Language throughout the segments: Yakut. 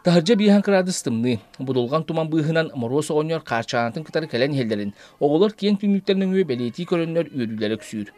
Таһырдьа биэһэн кыраадыс тымныы, будулҕан туман быыһынан Мороз оҕонньор хаарчаанатын кытары кэлэн иһэллэрин, оҕолор киэҥ түннүктэр нөҥүө бэлиэтии көрөннөр үөрүүлэрэ үксүүр.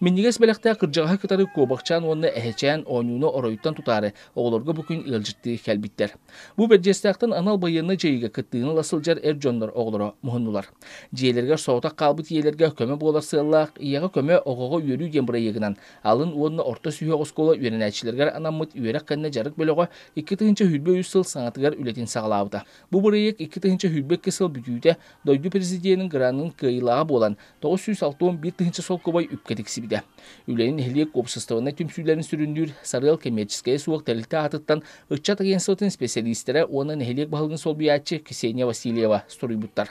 Минньигэс бэлэхтээх кырдьаҕаһы кытары Куобахчаан уонна Эһэчээн оонньууну оройуттан tutаары оҕолорго бу күн ыалдьыттыы кэлбиттэр. Бу Бэрдьиэстээхтэн анал байыаннай дьайыыга кыттыыны ыла сылдьар эр дьоннор оҕолоро муһуннулар. Дьиэлэригэр соҕотох хаалбыт ийэлэргэ көмө буолар сыаллаах «Ийэҕэ көмө, оҕоҕо үөрүү» диэн бырайыагынан Алын уонна орто сүһүөх оскуола үөрэнээччилэригэр анаммыт үөрэх кэннэ дьарык бөлөҕө икки тыһыынча сүүрбэ үс сыл саҥатыгар үлэтин саҕалаабыта. Бу бырайыак икки тыһыынча сүүрбэ икки сыл бүтүүтэ дойду президенин гранын кыайыылааҕа буолан, тоҕус сүүс алта он биир тыһыынча солкуобай үпкэ тиксибитэ. Үлэни нэһилиэк уопсастыбаннай түмсүүлэрин сүрүннүүр Сарыал коммерческайа суох тэрилтэ аатыттан ыччат агентствотын исписэлиистэрэ уонна нэһилиэк баһылыгын солбуйааччы Ксения Васильева суруйбуттар.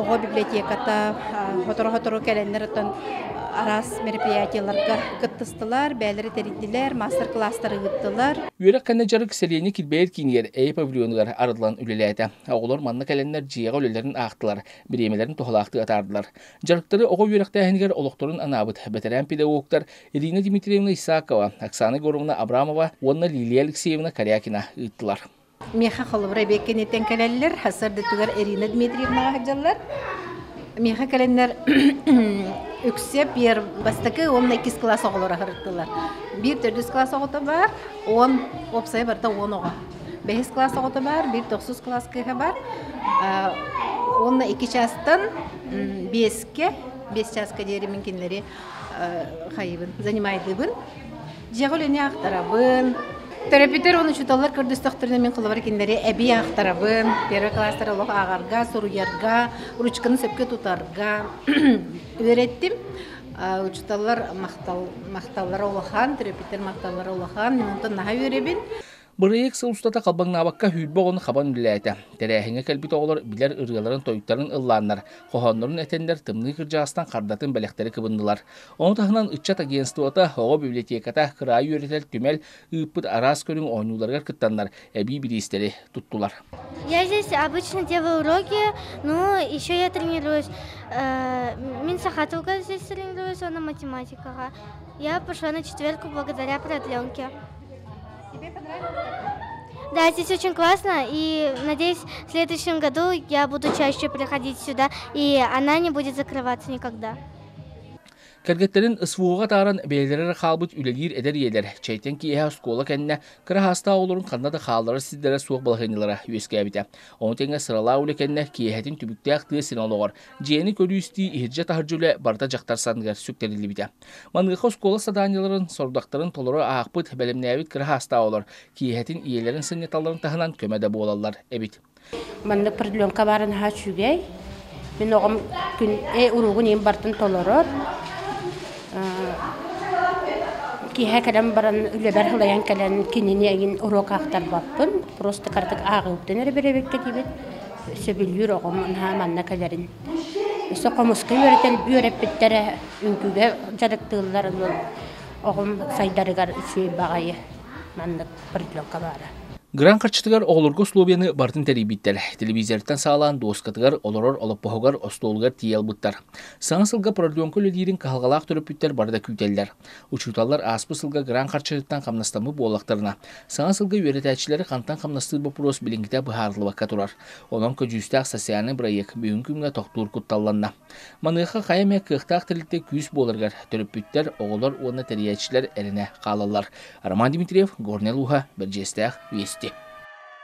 оҕо библиотеката сотору-сотору кэлэннэриттэн араас мероприятиеларга кыттыстылар, бэйэлэрэ тэрийдилэр, маастар-кылаастар ыыттылар. Үөрэх кэннэ дьарык сэлиэнньэ килбэйэр киинигэр эйэ павильонугар арыллан үлэлээтэ. Оҕолор манна кэлэннэр дьиэҕэ үлэлэрин аахтылар, бириэмэлэрин туһалаахтыы атаардылар. Дьарыктары оҕо үөрэхтээһинигэр олохторун анаабыт бэтэрээн педагогтар Ирина Дмитриевна Исакова, Оксана Егоровна Абрамова уонна Лилия Алексеевна Корякина ыыттылар. Миэхэ холобура эбиэт кэнниттэн кэлэллэр. Сардытыгар Ирина Дмитриевнаҕа сылдьаллар. Миэхэ кэлэннэр үксэ пиэр бастакы уонна иккис кылаас оҕолоро сырыттылар. Биир төрдүс кылаас оҕото бар, он уопсайа барыта он оҕо. Бэһис кылаас оҕото бар, биир тохсус кылаас кыыһа бар. Уонна икки чаастан биэскэ, биэс чааска диэри мин кинилэри хайыбын, занимайдыыбын. Дьиэҕэ үлэни аахтарабын. Төрөппүттэр уонна учууталлар көрдөстөхтөрүнэ мин холобур кинилэри эбии аахтарабын. Первый класстар олох ааҕарга, суруйарга, ручканы сөпкө тутарга үөрэттим. Учууталлар махталлара улахан, төрөппүттэр махталлара улахан. Мен онтон наһаа үөрэбин. Бырайыак сыл устата халбаҥнаабакка хүйбэ оҕону хабан үлэлээтэ. Тэрээһиҥҥэ кэлбит оҕолор билэр ырыаларын-тойтарын ыллааннар, хоһооннорун этэннэр, тымныы кырдьаҕастан хардатын бэлэхтэри кыбыннылар. Ону таһынан ыччат агентствота, оҕо библиотеката, кыраайы үөрэтэр түмэл ыыппыт араас көрүҥ оонньууларыгар кыттаннар, эбии бириистэри туттулар. Я здесь обычно делаю уроки, ну, еще я тренируюсь. Мин сахатука здесь тренируюсь, она математикаға. Я пошла на четверку благодаря продленке. Да, здесь очень классно, и надеюсь, в следующем году я буду чаще приходить сюда, и она не будет закрываться никогда. Кэргэттэрин СВО-га тааран бэйэлэрэ хаалбыт үлэлиир эдэр ийэлэр, чэйтэн киэһэ оскуола кэннэ кыра хаастаах оҕолорун ханна да хаалларар сирдэрэ суох балаһыанньалара үөскээбитэ. Ону тэҥэ сыралаах үлэ кэннэ киэһэтин түбүктээх тыа сирин олоҕор, дьиэни көрүү-истии иһирдьэ таһырдьа үлэ барыта дьахтар санныгар сүктэриллибитэ. Маныаха оскуола саданиеларын сорудахтарын толору аахпыт, бэлэмнээбит кыра хаастаабалар киэһэтин ийэлэрин сынньаталарын таһынан көмө да буолаллар эбит. Маннык определенка баара наһаа үчүгэй. Мин оҕом күн э уруугун ийэм бартын толорор. Киэһэ кэлэн баран үлэбэр хылайан кэлэн кинини эҥин уруок аахтарбаппын. Просто кыратык ааҕыыттан эрэ бэрэбиккэ диибит. Сөбүлүүр оҕом наһаа манна кэлэрин. Өссө хомуска үөрэтэн үөрэппиттэрэ үҥкүгэ дьарыктыыллар дьон оҕом сайдарыгар үчүгэй баҕайы маннык партнерка баара. Грант харчытыгар оҕолорго условияны барытын тэрийбиттэр. Телевизортан саалаан дуоскатыгар, олорор олоппоһугар, остуолугар тиийэ ылбыттар. Саҥа сылга прорленка үлэлиирин кыһалҕалаах төрөппүттэр бары да күүтэллэр. Учууталлар ааспыт сылга грант харчытыттан хамнастаммыт буоллахтарына, саҥа сылга үөрэтээччилэри хантан хамнастыыр боппуруос билиҥҥитэ быһаарыллыбакка турар. Онон көдьүүстээх социальнай бырайыак бүгүҥҥү күҥҥэ тохтуур кутталланна. Маныаха хайа эмэ кыахтаах тэрилтэ күүс буоларыгар төрөппүттэр, оҕолор уонна тэрийээччилэр эрэнэ хаалаллар. Роман Дмитриев, Горнай улууһа, Бэрдьиэстээх, Вести.